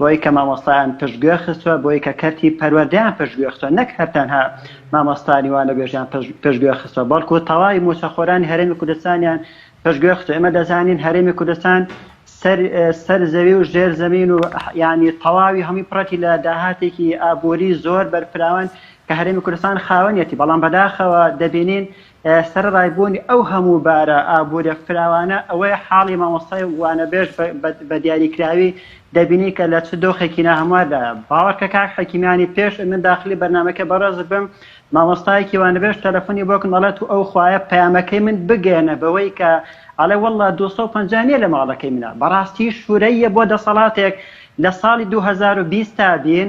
بۆی کە مامۆستایان پشتگوێ خستوە، بۆی کە کەرتی پەروەردەیان پشتگوێ خستوە، نەک هەر تەنها مامۆستانی وانەبێژیان پشتگوێ خستوە، بەڵکو تەواوی موچەخۆرانی هەرێمی کوردستانیان پشتگوێ خستوە، ئێمە دەزانین هەرێمی کوردستان سەر زەوی و ژێر زەمین و یانی تەواوی هەموی پڕەتی لە داهاتێکی ئابوری زۆر بەرفراوان کە هەرێمی کوردستان خاوەنیەتی، بەڵام بەداخەوە دەبینین سەرەڕای بوونی ئەو هەموو بارە ئابووریە فراوانە ئەوەیە حاڵی مامۆستای وانەبێژ بە دیاریکراوی دەبینی کە لە چ دۆخێکی ناهەمواردایە باوەڕکە کاک حەکیمیانی پێش من داخلی بەرنمەکە بەڕێز بم مامۆستایەکی وانەبێژ تەلەفۆنی بۆکن دەڵێت و ئەو خوایە پەیامەکەی من بگەێنە بەوەی کە ئەڵێ والله 250 نیە لە ماڵەکەی منە بەڕاستی شورەیە بۆ دەسەڵاتێک لە ساڵی 2020 تا بین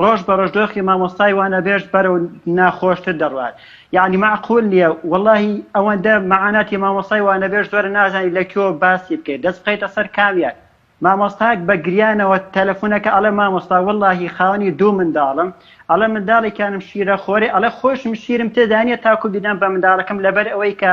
ڕۆژ بەڕۆژ دۆخی مامۆستای وانەبێژ بەرەو ناخۆشتر دەڕوات یانی مەعقول نیە وەڵاهی ئەوەندە مەعاناتی مامۆستای وانەبێژ زۆرە نازانی لە کوێوە باسی بکەی دەست بخەیتە سەر کامیان مامۆستایەک بە گریانەوە تەلەفونەکە ئەڵێ مامۆستا وەڵاهی خاوەنی دوو منداڵم ئەڵێ منداڵێکیانم شیرە خۆرێ ئەڵێ خۆشم شیرم تێدانیە تاکو بیدەم بە منداڵەکەم لەبەر ئەوەی کە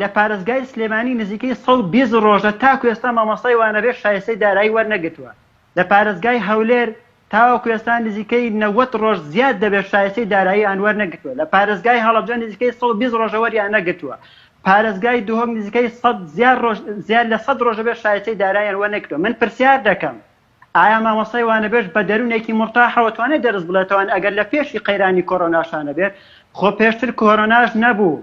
لە پارێزگای سلێمانی نزیکەی سەد و بیست ڕۆژە تاکو ئێستا مامۆستای وانەبێژ شایستەی دارایی وەرنەگرتووە لە پارێزگای هەولێر تاوەکو ئێستا نزیکەی نەوەد ڕۆژ زیاد دەبێت شایستەی دارایی یان وەرنەگرتووە لە پارێزگای هەڵەبجە نزیکەی سەد و بیست ڕۆژە وەریان نەگرتووە پارێزگای دهۆک نزیکەی سەد زیاد ڕۆژ زیاد لە سەد ڕۆژە بێت شایستەی داراییان وەرنەگرتووە من پرسیار دەکەم ئایا مامۆستای وانەبێژ بە دەروونێکی مرتاحەوە توانێت دەرس بڵێتەوەن ئەگەر لە پێشی قەیرانی کۆرۆناشانە بێت خۆ پێشتر کۆرۆناش نەبوو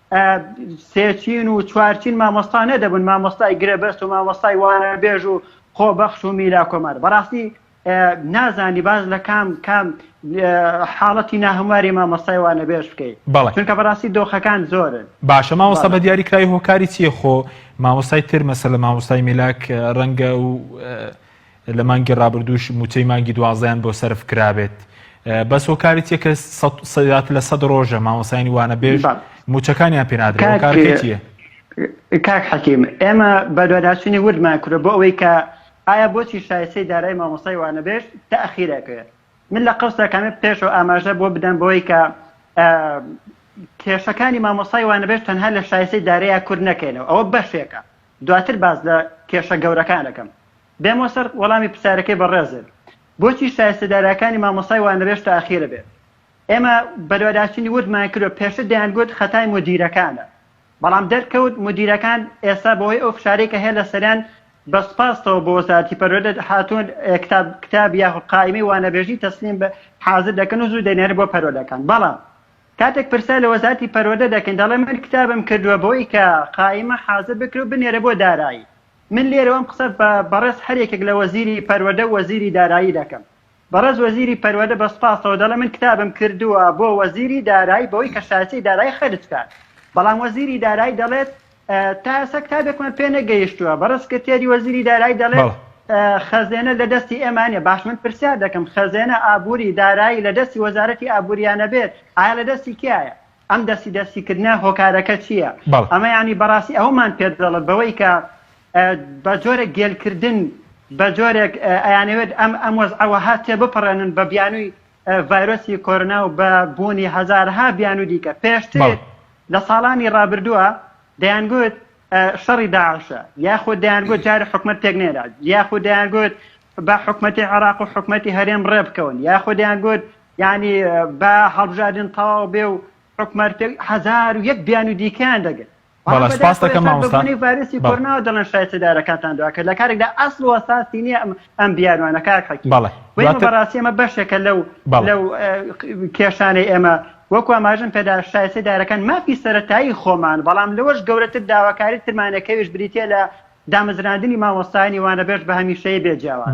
سێچین و چوارچین مامۆستا نەدەبن مامۆستای گرێبەست و مامۆستای وانە بێژ و خۆبەخش و میلا کۆمار بەڕاستی نازانی باز لە کام کام حاڵەتی ناهمواری مامۆستای وانە بێژ بکەیت چونکە بەڕاستی دۆخەکان زۆرن باشە مامۆستا بە دیاری کرای هۆکاری چیە خۆ مامۆستای تر مەسە لە مامۆستای میلاک ڕەنگە و لە مانگی ڕابردووش مووچەی مانگی دوازدەیان بۆ سەرف کرابێت بەس هۆکاری تیە کە سەدات لە سەد ڕۆژە مامۆسانی وانە بێژ موچەکانیان پێنادرێتە کاک حەکیم ئێمە بەدواداچوونی وردمان کورە بۆ ئەوەی کە ئایا بۆچی شایسەی دارای مامۆسای وانە بێژ تاخیرەکەێ من لە قەوسەکەمە پێشەوە ئاماژە بۆ بدەم بۆی کە کێشەکانی مامۆسای وانەبێت تەنها لە شایسەی دارەیە کورد نەکەینەوە ئەوە بەشێکە دواتر باس لە کێشە گەورەکان ئەکەم. بێمۆ سەر وەڵامی پرسیارەکەی بەڕێزت، بۆچی شایستە دارایەکانی مامۆستای وانەبێژ تاخیرە بێت؟ ئێمە بەدواداچوونی وردمان کردوە، پێشتر دەیانگوت خەتای مودیرەکانە، بەڵام دەرکەوت مودیرەکان ئێستا بەهۆی ئەو فشارەی کە هەیە لەسەریان بە سوپاستەوە بۆ وەزارەتی پەروەردە هاتوون کتاب کتاب یاخود قائیمەی وانەبێژی تەسلیم حازر دەکەن و زوو دەینێرن بۆ پەروەردەکان، بەڵام کاتێک پرسیار لە وەزارەتی پەروەردە دەکەین دەڵێ من کتابم کردووە بۆی کە قائیمە حازر بکرێ و بنێرە بۆ دارایی من لێرەوە ئەم قسە بە بەڕێز هەر یەکێک لە وەزیری پەروەردە و وەزیری دارایی دەکەم بەڕێز وەزیری پەروەردە بە سوپاسەوە دەڵێ من کتابم کردووە بۆ وەزیری دارایی بەوەی کە شایستەی دارایی خەرج کات بەڵام وەزیری دارایی دەڵێت تا ئێستا کتابێکمان پێ نەگەیشتووە بە ڕسکرتێری وەزیری دارایی دەڵێت خەزێنە لە دەستی ئێمانە باش من پرسیار دەکەم خەزێنە ئابووری دارایی لە دەستی وەزارەتی ئابووریانە بێت ئایا لە دەستی کیایە ئەم دەستی دەستیکردە هۆکارەکە چییە ئەمە ینی بەڕاستی ئەومان پێ دەڵێت بەوەی کە بە جۆرە گێلکردن بە جۆرێک ئەیانەوێت ئەم ئەم وەز ئەوە هاتێ بپەڕێنن بە بیانووی ڤایرۆسی کۆرۆنا و بە بوونی هەزارەها بیانووی دیکە، پێشتر لە ساڵانی ڕابردووە دەیانگوت شەڕی داعشە، یاخود دەیانگوت جارێ حکومەت پێک نێرا، یاخود دەیانگوت با حکومەتی عێراق و حکومەتی هەرێم ڕێ بکەون، یاخود دەیانگوت یانی با هەڵبژاردن تەواو بێ و حکومەت پێک، هەزار و یەک بیانووی دیکەیان دەگوت. بەڵێ سپاس دەکەم مامۆستا بەبوونی ڤایرۆسی کۆرناوە دەڵێن شایستەدارەکانتان دواکەن لە کارێکدا ئەسڵ و ئەساسی نییە ئەم ئەم بیانوانە کاک حەکی بەڵێ و ئێمە بەڕاستی ئەمە بەشێکە لەو لەو کێشانەی ئێمە وەکو ئاماژەم پێدا شایستەی دارەکان مافی سەرەتایی خۆمان بەڵام لەوەش گەورەتر داواکاری ترمانەکەویش بریتییە لە دامەزراندنی مامۆستایانی وانەبێژ بە هەمیشەیی بێ جیاواز.